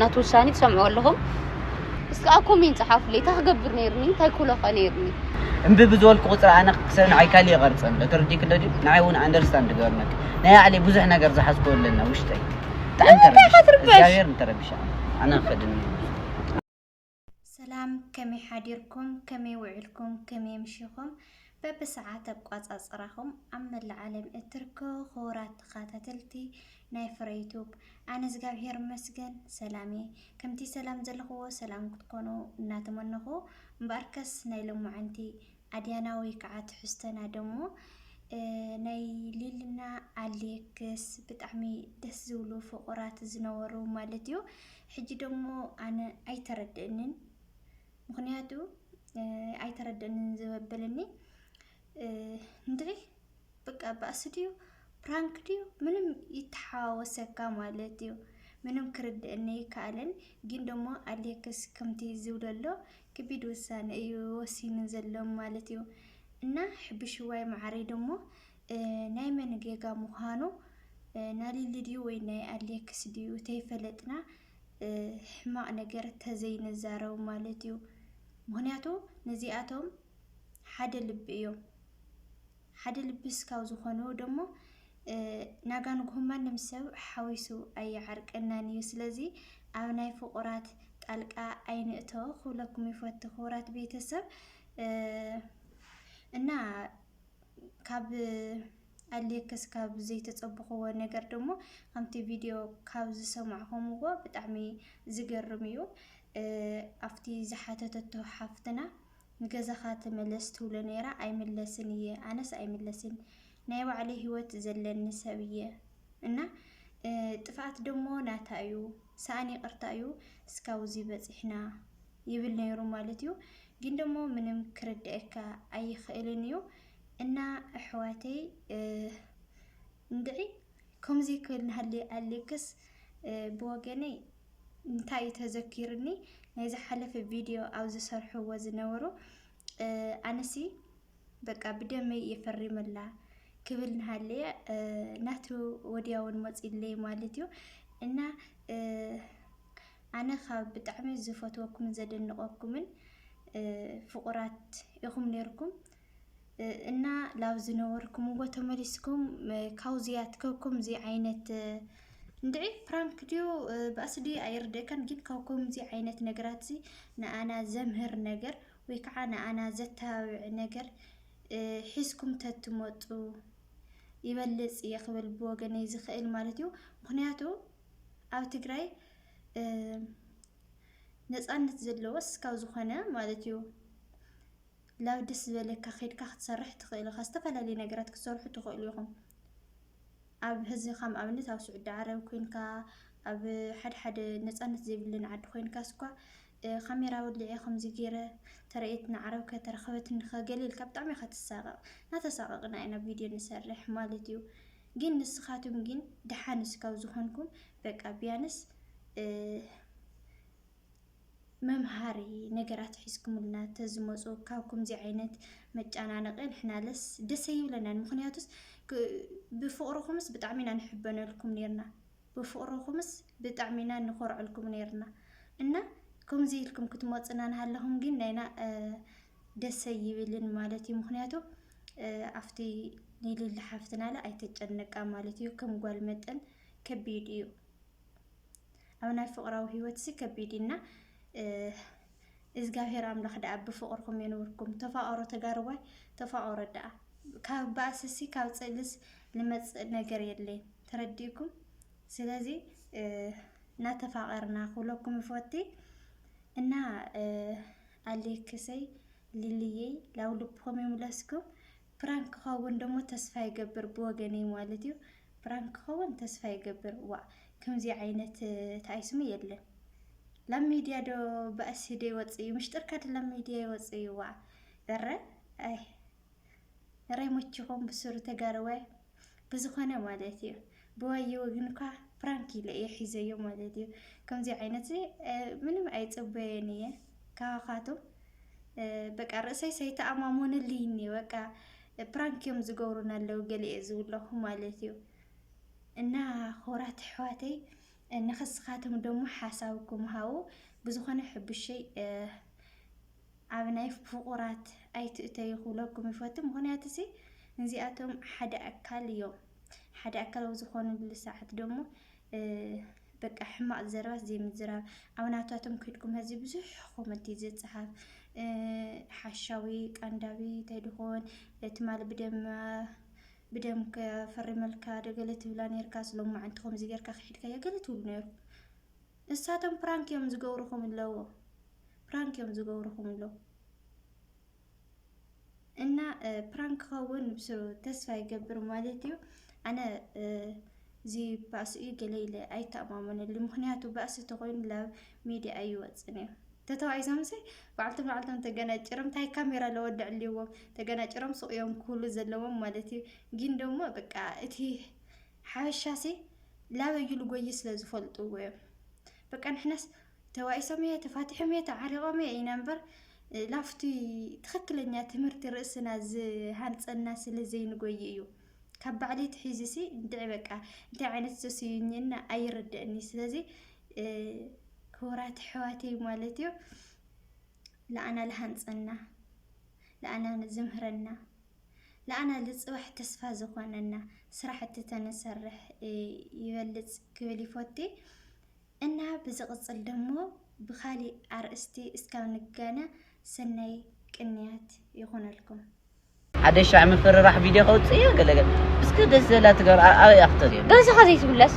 ናቱ ውሳኔ ትሰምዑ ኣለኹም እስኪ ኣብ ኮሜንት ጸሓፉለይ እንታይ ክገብር ነይርኒ እንታይ ኩለኸ ነይርኒ እምቢ ብዝበልኩ ቁፅሪ ኣነ ክሰብ ንዓይ ካልእ ይቐርፅ ኣሎ ተረዲእክ ዶ ድዩ ንዓይ እውን ኣንደርስታንድ ገበርነክ ናይ ኣዕለይ ብዙሕ ነገር ዝሓዝክዎ ኣለና ውሽጠይ ብጣዕሚ ተረቢሽ እግዚኣብሔር ንተረቢሻ ኣነ ክኸድኒ ሰላም ከመይ ሓዲርኩም ከመይ ውዒልኩም ከመይ ኣምሺኹም በብሰዓት ኣቋጻጽራኹም ኣብ መላእ ዓለም እትርከቡ ክቡራት ተኸታተልቲ ናይ ፍረ ዩቱብ ኣነ እግዚኣብሄር ይመስገን ሰላም እየ ከምቲ ሰላም ዘለኹዎ ሰላም ክትኮኑ እናተመነኹ እምበኣርከስ ናይ ሎማዓንቲ ኣድያና ወይ ከዓ ትሕዝቶና ደሞ ናይ ሊልና ኣሌክስ ብጣዕሚ ደስ ዝብሉ ፍቁራት ዝነበሩ ማለት እዩ። ሕጂ ደሞ ኣነ ኣይተረድእንን ምክንያቱ ኣይተረድእንን ዘበለኒ እንድዒ በቃ ባእሲ ድዩ ፕራንክ ድዩ ምንም ይተሓዋወሰካ ማለት እዩ። ምንም ክርድእኒ ኣይከኣለን ግን ደሞ ኣሌክስ ከምቲ ዝብለሎ ክቢድ ውሳነ እዩ ወሲኑ ዘሎ ማለት እዩ እና ሕብሽዋይ ማዓረይ ደሞ ናይ መን ጌጋ ምዃኑ ናሊሊ ድዩ ወይ ናይ ኣሌክስ ድዩ ተይፈለጥና ሕማቅ ነገር ተዘይንዛረብ ማለት እዩ ምክንያቱ ነዚኣቶም ሓደ ልቢ እዮም ሓደ ልብስ ካብ ዝኾኑ ደሞ ናጋ ንግሆ ማንም ሰብ ሓዊሱ ኣይዓርቀናን እዩ ስለዚ ኣብ ናይ ፍቑራት ጣልቃ ኣይንእቶ ክብለኩም ይፈቱ ክቡራት ቤተሰብ እና ካብ ኣሌክስ ካብ ዘይተጸብኽዎ ነገር ደሞ ከምቲ ቪድዮ ካብ ዝሰማዕኹምዎ ብጣዕሚ ዝገርም እዩ ኣብቲ ዝሓተተቶ ሓፍትና ንገዛኻ ተመለስ ትብሎ ነይራ ኣይምለስን እየ ኣነስ ኣይምለስን ናይ ባዕለይ ህይወት ዘለኒ ሰብ እየ እና ጥፍኣት ደሞ ናታ እዩ ሰኣን ይቅርታ እዩ እስካብዚ በፂሕና ይብል ነይሩ ማለት እዩ ግን ደሞ ምንም ክርድአካ ኣይኽእልን እዩ እና ኣሕዋተይ እንድዒ ከምዚ ክብል ናሃለየ ኣሌክስ ብወገነይ እንታይ እዩ ተዘኪሩኒ ናይ ዝሓለፈ ቪድዮ ኣብ ዝሰርሕዎ ዝነበሩ ኣነሲ በቃ ብደመይ እየ ፈሪመላ ክብል ንሃለየ ናቱ ወዲያውን መፂለይ ማለት እዩ እና ኣነ ካብ ብጣዕሚ ዝፈትወኩምን ዘደንቀኩምን ፍቁራት ኢኹም ነይርኩም። እና ላብ ዝነበርኩምዎ ተመሊስኩም ካብዚ ኣትከኩም እዚ ዓይነት እንድዒ ፕራንክ ድዩ ባእሲ ድዩ ኣይርደእካን ግን ካብ ከምዚ ዓይነት ነገራት እዚ ንኣና ዘምህር ነገር ወይ ከዓ ንኣና ዘተባብዕ ነገር ሒዝኩም ተትመፁ ይበልፅ እየ ክብል ብወገነይ ዝኽእል ማለት እዩ ምክንያቱ ኣብ ትግራይ ነፃነት ዘለዎስ ካብ ዝኾነ ማለት እዩ ላብ ደስ ዝበለካ ከድካ ክትሰርሕ ትክእል ኢካ ዝተፈላለዩ ነገራት ክትሰርሑ ትክእሉ ኢኩም ኣብ ህዚ ከም ኣብነት ኣብ ስዑዲ ዓረብ ኮይንካ ኣብ ሓደ ሓደ ነፃነት ዘይብለን ዓዲ ኮይንካ ስኳ ካሜራ ወሊዐ ከምዚ ገይረ ተረኤት ንዓረብ ከተረከበትኒ ከገሊ ኢልካ ብጣዕሚ ኢካ ትሳቀቅ ናተሳቀቅና ኢና ቪድዮ ንሰርሕ ማለት እዩ ግን ንስካትም ግን ደሓንስ ካብ ዝኮንኩም በቃ ቢያንስ መምሃሪ ነገራት ሒዝኩምልና ተዝመፁ ካብ ከምዚ ዓይነት መጨናነቂ ንሕናለስ ደስ ኣይብለናን። ምክንያቱስ ብፍቅርኩምስ ብጣዕሚ ኢና ንሕበነልኩም ነርና ብፍቅርኩምስ ብጣዕሚ ኢና ንኮርዐልኩም ነርና እና ከምዚ ኢልኩም ክትመፁና ንሃለኹም ግን ናይና ደስ ኣይብልን ማለት እዩ። ምክንያቱ ኣብቲ ንልሊ ሓፍትናለ ኣይተጨነቃ ማለት እዩ። ከም ጓል መጠን ከቢድ እዩ። ኣብ ናይ ፍቕራዊ ህይወትሲ ከቢድ እዩ እና እዝጋብሔር ኣምላኽ ደኣ ብፍቕርኹም የንብርኩም ተፋቐሩ ተጋርዋይ ተፋቐሩ ደኣ ካብ ባእስሲ ካብ ጽልስ ልመጽእ ነገር የለይን ተረዲእኩም ስለዚ እናተፋቐርና ክብለኩም ይፈቲ እና ኣሌክሰይ ልልየይ ላው ልብኹም ይምለስኩም ፕራንክ ክኸውን ደሞ ተስፋ ይገብር ብወገነይ ማለት እዩ። ፕራንክ ክኸውን ተስፋ ይገብር። ዋእ ከምዚ ዓይነት እንታይ ስሙ የለን ላብ ሚድያ ዶ ባእሲ ዶ ይወፅእ እዩ ምሽጥርካ ዶ ላብ ሚድያ ይወፅእ እዩ ዋእ እረ እይ እረ ይሞችኹም ብስሩ ተጋርወ ብዝኾነ ማለት እዩ ብዋየ ወግን እኳ ፕራንክ ኢለ እየ ሒዘዮ ማለት እዩ። ከምዚ ዓይነት ምንም ኣይፅበየን እየ ካባኻትም በቃ ርእሰይ ሰይተኣማሞንልይ እኒ በቃ ፕራንክ እዮም ዝገብሩን ኣለዉ ገሊኤ ዝብለኹ ማለት እዩ እና ሆራት ኣሕዋተይ ንኸስኻትም ደሞ ሓሳብኩም ሃቡ ብዝኾነ ሕቡሸይ ኣብ ናይ ፍቁራት ኣይትእተዩ ክብለኩም ይፈቱ ምክንያቱ ሲ ንዚኣቶም ሓደ ኣካል እዮም ሓደ ኣካል ኣብ ዝኾንሉ ሰዓት ደሞ በቃ ሕማቅ ዘረባት ዘይምዝራብ ኣብ ናታቶም ክድኩም ህዚ ብዙሕ ኮመንት እዩ ዝጽሓፍ ሓሻዊ ቃንዳዊ እንታይ ድኾን ትማል ብደማ ብደም ከፈሪ መልካ ደገለ ትብላ ነርካ ስሎማዕንቲ ከምዚ ገርካ ክሒድካዮ ገለ ትብሉ ነርኩም ንሳቶም ፕራንክ እዮም ዝገብሩኹም ኣለዎ ፕራንክ እዮም ዝገብሩኹም ኣለዎ እና ፕራንክ ክኸውን ብስሩ ተስፋ ይገብር ማለት እዩ ኣነ እዚ ባእሲ እዩ ገለ ኢለ ኣይተኣማመነሉ ምክንያቱ ባእሲ ተኮይኑ ላብ ሚድያ ኣይወፅን እዩ ተተዋኢሶም ሲ ባዕልቲ ባዕልቶም ተገናጭሮም እንታይ ካሜራ ለወድዕልዎም ተገናጭሮም ሱቅ እዮም ክብሉ ዘለዎም ማለት እዩ ግን ደግሞ በቃ እቲ ሓበሻሲ ላበዩ ልጎይ ስለ ዝፈልጥዎ እዮም በቃ ንሕናስ ተዋኢሶም እየ ተፋቲሖም እየ ተዓሪቆም እየ ኢና እምበር ላፍቲ ትክክለኛ ትምህርቲ ርእስና ዝሃንፀና ስለ ዘይንጎይ እዩ ካብ ባዕለይ ትሒዝሲ እንድዒ በቃ እንታይ ዓይነት ዘስዩኝና ኣይርድእኒ ስለዚ ክቡራት ኣሕዋተይ ማለት እዩ ለኣና ልሃንፀና ለኣና ዝምህረና ልኣና ልፅባሕ ተስፋ ዝኾነና ስራሕቲ ተንሰርሕ ይበልፅ ክብል ይፎቲ እና ብዝቅፅል ደሞ ብካሊእ ኣርእስቲ እስካብ ንገና ሰናይ ቅንያት ይኹነልኩም። ሓደ ሻዕ ምፍርራሕ ቪድዮ ከውፅእ እየ ገለ ገለ እስከ ደስ ዘላ ትገር ኣበይ እያ ክተርእዮ ገዛኻ ዘይትብለስ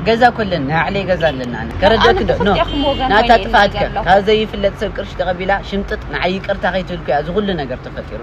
ገዛ ኩለን ናይ ባዕለይ ገዛ ኣለና ኣነ ከረድኣክ ዶ ኖ ናታ ጥፍኣት ከ ካብ ዘይፍለጥ ሰብ ቅርሺ ተቐቢላ ሽምጥጥ ንዓይ ይቅርታ ከይትብል እኮ እያ እዚ ኩሉ ነገር ተፈጢሩ